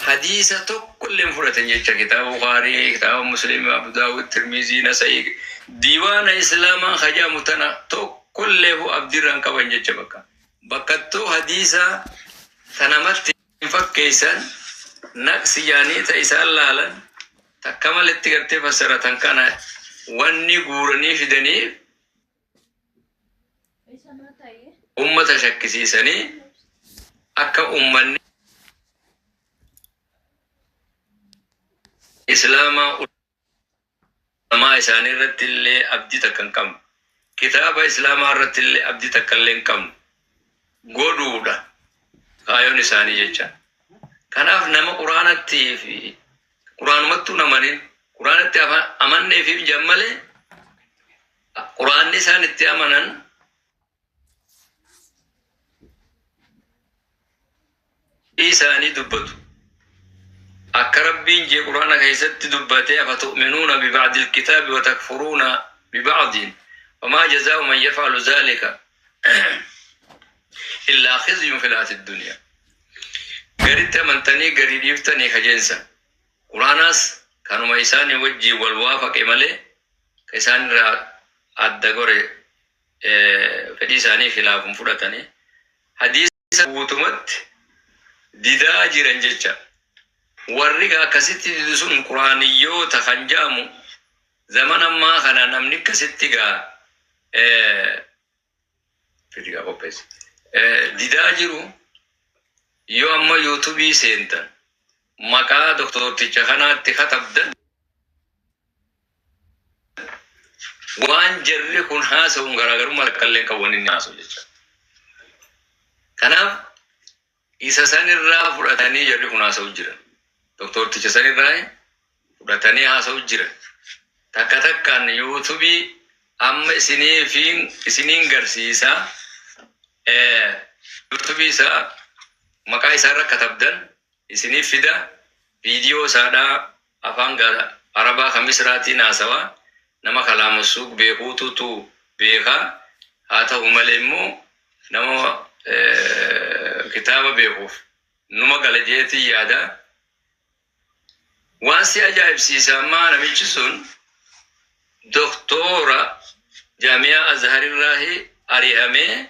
Hadiisa tokko illee hin fudhatin jecha kitaaba Bukhaarii, kitaaba Muslim, Abu Daawud, Tirmizii, Nasa'ii, diiwaana Islaamaa ka jedhamu tana tokko illeefu abdii irraa hin qaban jecha bakka. Bakkattuu hadiisa ta namatti hin fakkeessan naqsi jedhanii ta isaan laalan takka malitti gartee fassaratan kana wanni guuranii fidaniif ummata shakkisiisanii akka ummanni islaamaa ulamaa isaanii irratti illee abdii takka hin qabne kitaaba islaamaa irratti illee abdii takka illee hin qabne godhuudha kaayoon isaanii jecha kanaaf nama quraanatti fi quraanumattuu namanin quraanatti amanneefiif jammalee Qur'aanni isaan itti amanan isaanii dubbatu. Akka Rabbiin jee Qur'aana keessatti dubbatee afa tu'minuuna biba'dil kitaabi wa takfuruuna biba'diin wamaa jazaa'u man yaf'alu zaalika illaa khizyun fil hayaati duniyaa. Garitti amantanii garii dhiiftanii kajeensa. Qur'aanaas kanuma isaanii wajjiin wal waafaqe malee Ka isaan irraa adda gore fedhii isaaniif hilaafuun fudhatani. Hadiisa guutumatti didaa jiran jecha. Warri ka akkasitti didu sun Qur'aaniyyoota kan ja'amu zamana ammaa kana namni akkasitti ga Video qopheessi. Eh, Didaa jiru yoo amma yuutubii seentan maqaa doktorticha kanaatti katabdan waan jarri kun haasa'uun garaagarummaa takka illee qabu inni haasa'u jecha. Kanaaf Isa san irraa fudhatanii jarri kun haasa'u jiran. Doktoorticha san irraa fudhatanii haasa'u jiran. Takka takkaan yuutubii amma isiniifiin isiniin garsiisa yuutubii isaa maqaa isaa irra katabdan isiniif fida viidiyoo isaadhaa Afaan gaara Arabaa ka Misraatiin haasawaa nama kalaamassuug beekuutu tu beeka. Haa tahu malee immoo nama kitaaba beekuuf numa gala je'eetiin yaada. Waan si ajaa'ibsiisa ammaa namichi sun Doktoora Jaami'aa Azharirraahi ari'amee.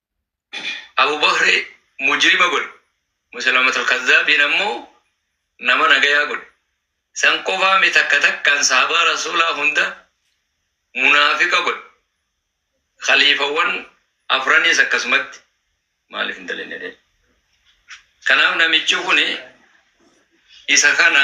Abu Bakri mujrima godhe. Musaylamatul Kazzaabiin ammoo nama nagayaa godhe. San qofaa mi takka takkaan sahabaa Rasuulaa hunda munaafiqa godhe. Khaliifawwan afraniis akkasumatti. Maaliif hin dalayne ree? Kanaaf namichi kuni isa kana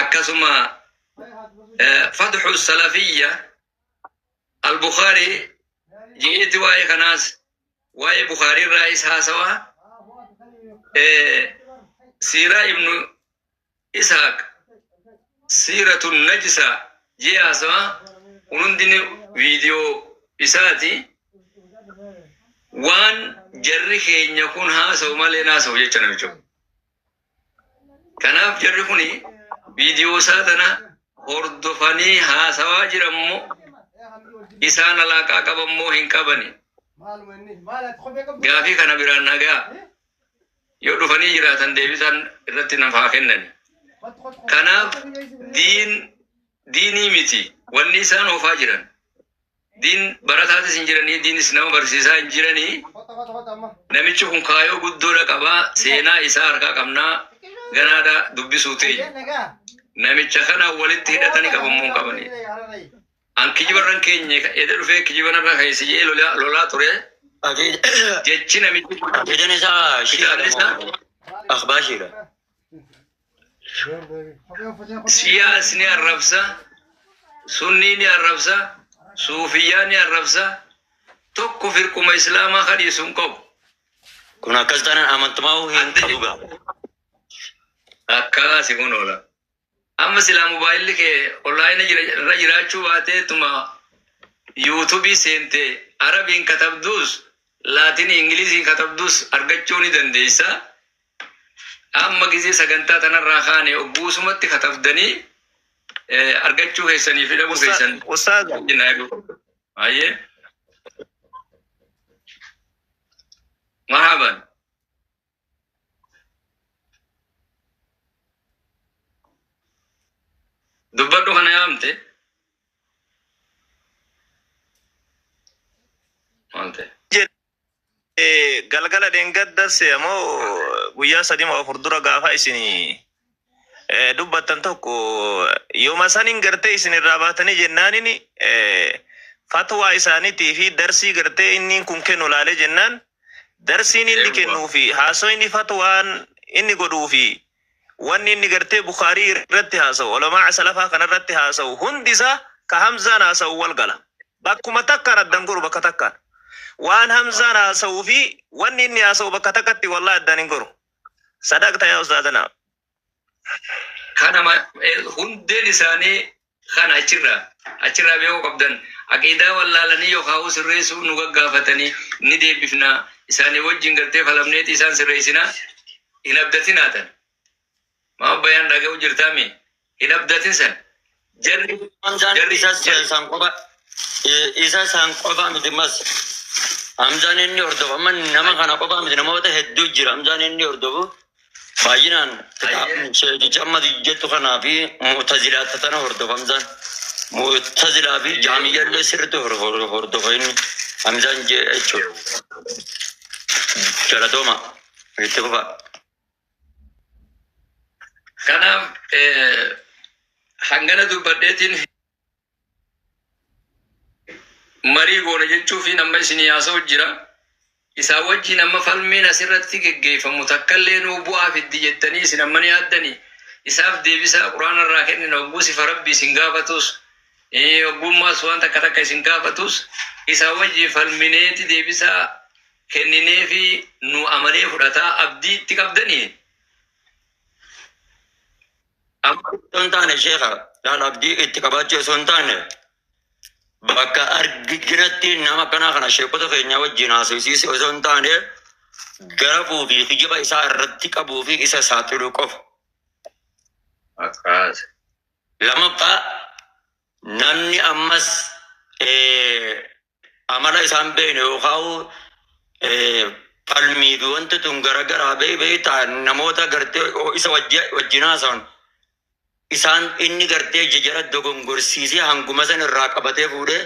akkasuma fatxu salafiyya albukaarii je'eeti waa'ee kanaas waa'ee bukaarii irraa is haasawaa siiraa ibnu isaaq siiratu najisa jee haasawa kun hundini viidiyoo isaati waan jarri keenya kun haasawu malee naasawu jecha namicho Kanaaf jarri kun viidiyoo isaa tana hordofanii haasawaa jiran moo isaan alaaqaa qaban moo hin qabani? Gaafii kana biraan nagaa yoo dhufanii jiraatan deebisaan irratti naaf haa kennani. Kanaaf diin diinii miti wanni isaan oofaa jiran. Diin barataatis hin jiranii, diinis nama barsiisaa hin jiranii. Namichi kun kaayoo guddoodha qaba. Seenaa isaa harkaa qabnaa ganaadha dubbisuu teenya. Namicha kana walitti hidhatani qabamuu hin qabani. An kijibarran keenya eda dhufee kijibanarra keessi jedhee lolaa, lolaa ture. Jechi namichi kun Aqiidan isaa kitaabni isaa shiidha. Akhbaashiidha. Siyaas ni arrabsa, sunnii ni arrabsa, suufiyyaa ni arrabsa. Tokko firquma islaamaa kadhiisu hin qabu. Kun akkas taanaan amantumaa'uu hin Adda qabu gaa. Akkaa si kun oola. Amma silaa mobaayilli kee onlaayina jira- irra jiraachuu baateetuma yuutubii seentee arabiin katabduus laatinii ingiliziin katabduus argachuu ni dandeessa. Amma gizee sagantaa tanarraa kaane ogguusumatti katabdanii argachuu keessanii fi dhabuu keessan. Ustaaz. Ayyee. Marhaban. Dubbadhu kana yaamte. Maal ta'e? galgala dheengaddas ammoo guyyaa sadii moo afur dura gaafa isin dubbattan tokko yooma saniin gartee isin irraa baatanii jennaanin fatwaa isaaniitii fi darsii gartee inni kun kennu laalee jennaan darsiin inni kennuu fi haasoo inni fatwaan inni godhuu fi wanni inni gartee bukhaarii irratti haasa'u ulamaa'a salafaa kana irratti haasa'u hundi isaa ka hamzaan haasa'u wal gala bakkuma takkaan addan goru bakka takkaan waan hamzaan haasa'uu fi wanni inni haasa'u bakka takkatti wallahi addan hin goru sadaqta yaa ustaazanaa Kana ma- eh, hundeen isaanii Kana achirraa achirraa beekuu qabdan. Aqiidaa wallaalanii yokhaa'uu sirreessuu nu gaggaafatanii ni deebifna, isaanii wajjin gartee falamneeti isaan sirreessina, hin abdatinaa tan. Maaf bayaan dhaga'u jirtaa mee? Hin abdatin san. Jarri Hamzaan jarri isa san san qofa i- isa san qofa miti mas Hamzaan inni hordofu amma nama kana qofa miti namoota hedduu jira Hamzaan inni hordofu Baay'inaan kitaabni sheekichi amma jettu kanaa fi mu'tazilaata tana hordofa Hamzaan. Mu'tazilaa fi jaamiyyallee sirriitti hor- hor- hordofa inni Hamzaan jee jechuudha. Galatooma itti fufa. Kanaaf eh, hangana dubbadheetiin marii goona jechuufiin amma isinii haasa'u jira. Isaa wajjin amma falmiin asirratti geggeeffamu takkallee nuu bu'aa fiddi jettanii isin amma ni yaaddanii? Isaaf deebisaa Qur'aana irraa kennina hogguu sifa Rabbi isin gaafatus hoggummaas waan takka takka isin gaafatus isaa wajjin falmineeti deebisaa kennineefi nu amanee fudhataa abdii itti qabdanii? Amma osoo hin taane sheekha kan abdii itti qabaachuu osoo hin taane bakka argitinatti nama akkanaa kana sheekota keenyaa wajjin haasofsiise osoo hin taane garafuu fi kijiba isaa irratti qabuu fi isa saaxiluu qofa. Akkaas. Lammaffaa namni ammas eh, amala isaan beekne yookaan falmii fi wanti tun garagaraa bee beektaa namoota gartee oo isa wajji- wajjin haasawan isaan inni gartee jijara dogongorsiisee hanguma san irraa qabatee fuudhee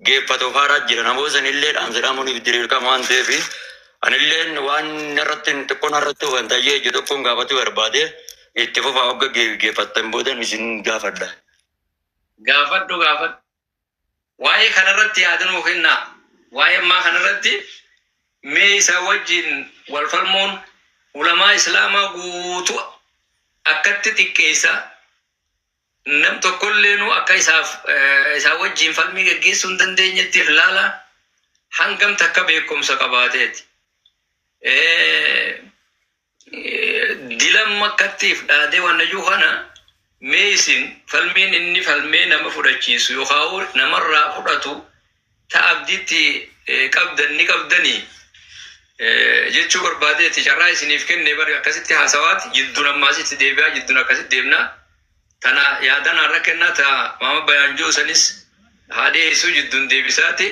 geeffatu faaraa jira namoota san illee dhaamsidhaamuniif diriirqama waan ta'eef anilleen waan irratti xiqqoon irratti hubantayyee ija tokkoon gaafachuu barbaade itti fufaa hogga geeffattan boodan isin gaafadha. Gaafadhu gaafadhu. Waa'ee kana irratti yaada nuu kennaa. Waa'ee ammaa kana irratti mee isaa wajjin wal falmuun ulamaa Islaamaa guutuu akkatti xiqqeessa. Nam tokkolleenuu akka isaaf eh, isaa wajjin falmii gaggeessuu hin dandeenyetti if laala. Hangam takka beekumsa qabaateeti. Eh, dilan makkattiif dhaadee wannayuu kana mee isin falmiin inni falmee nama fudhachiisu yookaan namarraa fudhatu ta abdiitti qabdan ni qabdanii jechuu barbaadeeti carraa isiniif kenne bari akkasitti haasawaati jidduun ammaasitti deebi'aa jidduun akkasitti deemnaa Tana yaada naarra kennaa ta Maama Bayaanjoo sanis haa dhiyeessuu jidduun deebisaati.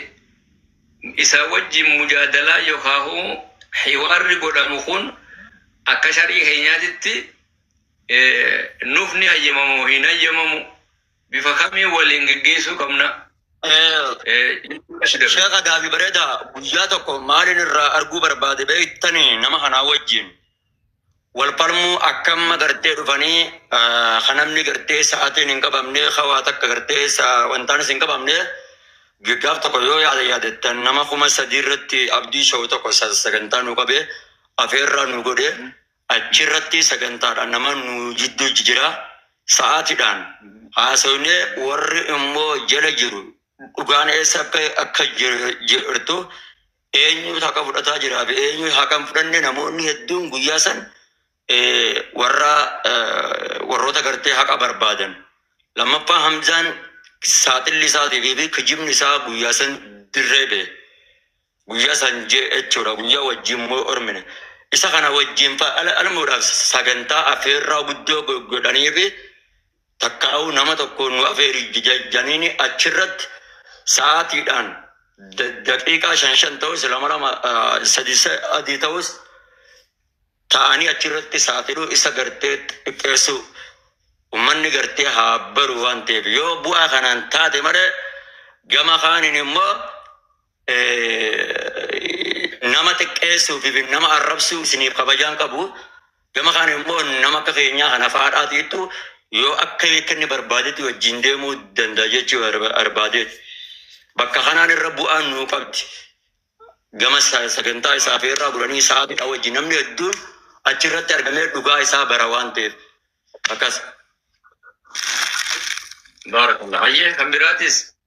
Isaa wajjin mujaadalaa yokaahuu hiwaarri godhamu kun akka shar'ii keenyaatitti nuuf ni hayyamama moo hin hayyamamu? Bifa kamiin waliin geggeessuu qabna? Sheekha gaafii bareedaa guyyaa tokko maalin irraa arguu barbaade beektanii nama kanaa wajjin wal falmuu akka amma gartee dhufanii ka namni gartee sa'atiin hin qabamne ka waa takka gartee wantaanis hin qabamne gaaf tokko yoo yaada yaadattan nama kuma sadii irratti abdii sha'u tokko sagantaa nu qabe afeerraa nu godhe achirratti sagantaadhaan nama nu jidduu jijjira sa'aatiidhaan haasofne warri immoo jala jiru dhugaan eessa akka akka jirtu Eenyutu haqa fudhataa jiraa fi eenyu haqa hin fudhanne namoonni hedduun guyyaa san eh, warra eh, warroota gartee haqa barbaadan. Lammaffaa Hamzaan saaxilli isaatii fi kijibni isaa guyyaa san dirree ba'e. guyyaa san jee jechuudha guyyaa wajjin moo ormine isa kana wajjin fa'ala almuudhaaf sagantaa afeerraa guddoo go- godhanii fi Takkaa'uu nama tokkoon nu afeeri janiini achirratti sa'aatiidhaan daqiiqaa shan shan ta'us lama lama sadi adii ta'us ta'anii achirratti saaxiluu isa gartee xiqqeessuu ummanni gartee haa baru waan ta'eef yoo bu'aa kanaan taate malee gama kaaniin immoo nama xiqqeessuu fi nama arrabsuu isiniif kabajaan qabu. Gama kana immoo nama akka keenyaa kan afaadhaatiittu yoo akka akka inni barbaadetti wajjin deemuu danda'a jechuu barbaadeeti. Bakka kanaan irra bu'aan nuu qabdi. Gama sagantaa isaa fi irraa bulanii sa'aatiidha wajjin namni hedduun achirratti argamee dhugaa isaa bara waan ta'eef akkas. Baarakallah. Hayyee kan biraatis.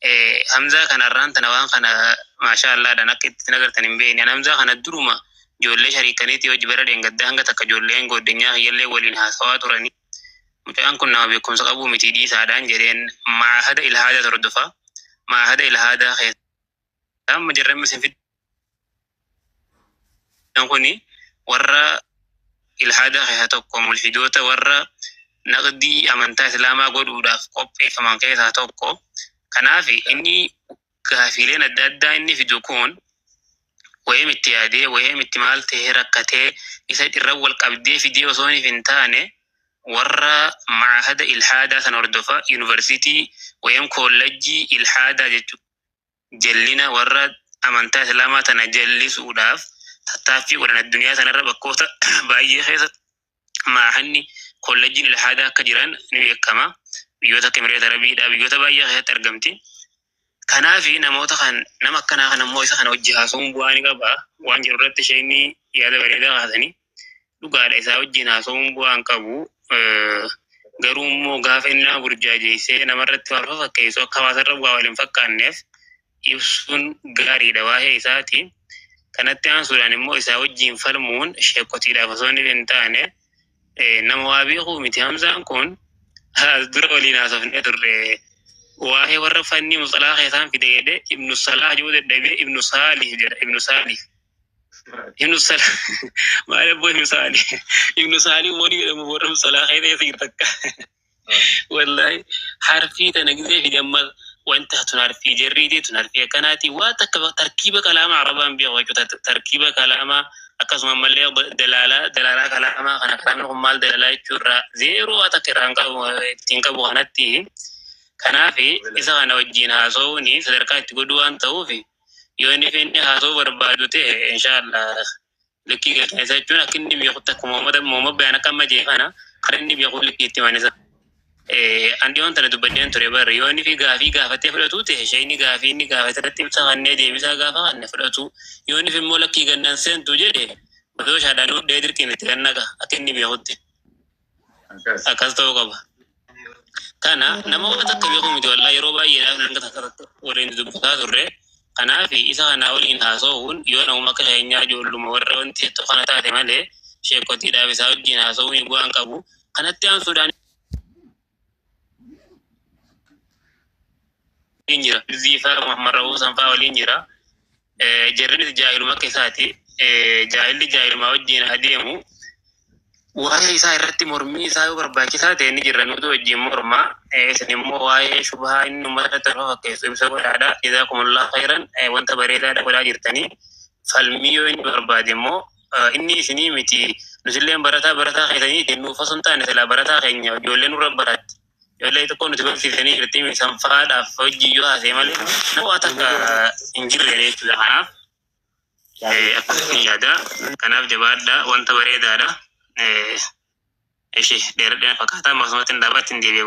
Eh, Hamzaa kana irraan tana waan kana maashaa Allaadhaan akka itti nagartan hin beekne. An Hamzaa kana duruma ijoollee shariikaniitii hojii bara dheengaddaa hanga takka ijoolleen gooddenyaa kiyyallee waliin haasawaa turanii. Mucaan kun nama beekumsa qabuu miti dhiisaadhaan jedheen maahada ilhaadaa hordofaa. Maahada ilhaadaa keessa Amma jarri amma isin fiddan kuni warra ilhaadaa keessaa tokko mulhidoota warra naqdii amantaa islaamaa godhuudhaaf qopheeffaman keessaa tokko. Kanaaf inni gaafiileen adda addaa inni fidu kun wayem itti yaadee wayem itti maal ta'ee rakkatee isa irra wal qabdee fidee osoo hin taane warra maahada ilhaadaa san hordofa yuunivarsiitii wayem koollajjii ilhaadaa jechuudha. jallina warra amantaa islaamaa tana jallisuudhaaf tattaaffii godhan addunyaa tanarra bakkoota baay'ee keessa maahanni kollejjiin ilhaadaa akka jiran ni beekama biyyoota akka Emireeta Arabiidhaa biyyoota baay'ee keessatti argamti. Kanaaf namoota kan nama akkanaa kan ammoo isa kana hojii haasa'uun bu'aa ni qaba waan jedhu irratti isheen yaada bareedaa kaasanii. dhugaadha isaa wajjin haasa'uun bu'aa hin qabu. Eh, Garuu immoo gaafa inni nama burjaajeessee namarratti waan fakkeessu akka hawaasarra bu'aa wal hin fakkaanneef ibsuun gaariidha waa'ee isaati. Kanatti aansuudhaan immoo isaa wajjin falmuun sheekotiidhaaf osoo inni hin taane eh, nama waa beekuu miti hamzaan kun as dura waliin haasofnee turre. Waa'ee warra fannii musalaa keessaan fide jedhee ibnu salaa jedhu dadhabee ibnu saalih jedha ibnu saalih. Ibnu Sal maal abboo Ibnu Saali Ibnu Saali wani jedhamu warra musalaa kee ta'e siir takka wallahi harfii tana gisee fi damma wanta tun harfii jarriitii tun harfii akkanaati waa takka tarkiiba kalaama arabaan beeku jechuudha tarkiiba kalaama akkasuma ammallee dalaalaa dalaalaa kalaama kana kalaamni kun maal dalaalaa jechuurra zeeroo waa takka irraan qabu ittiin qabu kanatti kanaaf isa kana wajjin haasa'uun sadarkaa itti godhu waan ta'uuf yoo inni fi inni haasoo barbaadu ta'e inshaallah likkii galchina isa jechuun akka inni beekutti akka Muhammad Muhammad Bayaan akka amma jee kana kan inni beeku likkii itti manisa. Andi waan tana dubbadheen ture barri yoo inni fi gaafii gaafatee fudhatuu ta'e ishee inni gaafii inni gaafate irratti ibsa kannee deebisaa gaafa kanne fudhatuu yoo inni fi immoo lakkii gannan seentu jedhe madooshaadhaan hudhee dirqiin itti gannaqa akka inni beekutti. Akkas. akkas ta'uu qaba. Kana nama waan takka beeku miti walaa yeroo baay'eedhaaf hanga takka irratti waliin dubbataa turre. Kanaaf isa kanaa waliin haasa'uun yoo namuma akka keenyaa ijoolluma warra wanti jettu kana taate malee sheekotiidhaaf isaa wajjin haasa'uun bu'aan qabu. Kanatti aansuudhaan waliin jira. Ziifaa Muhammad Rabuusan fa'aa waliin jira. jarrinis jaahiluma akka isaati jaahilli jaahilumaa wajjin adeemu waa'ee isaa irratti mormii isaa yoo barbaachisaa ta'e ni jirra nutu wajjin mormaa isin immoo waa'ee shubhaa inni uummata tolfa fakkeessu ibsa godhaadha isaa kumullaa fayran wanta bareedaadha godhaa jirtanii falmii yoo inni barbaade immoo inni isinii miti nutilleen barataa barataa keessanii itti nuuf osoo hin taane silaa barataa keenya ijoollee nurra baratti Ijoollee tokko nuti barsiisanii jirti isaan faadhaaf hojii yoo haasee malee nama waa takka hin jirre jechuudha. Kanaaf eh, akkasitti yaada. Kanaaf jabaadhaa wanta bareedaadha. Eh, Ishi dheeradhina fakkaataa maqsumatti hin dhaabaatti hin deebi'e.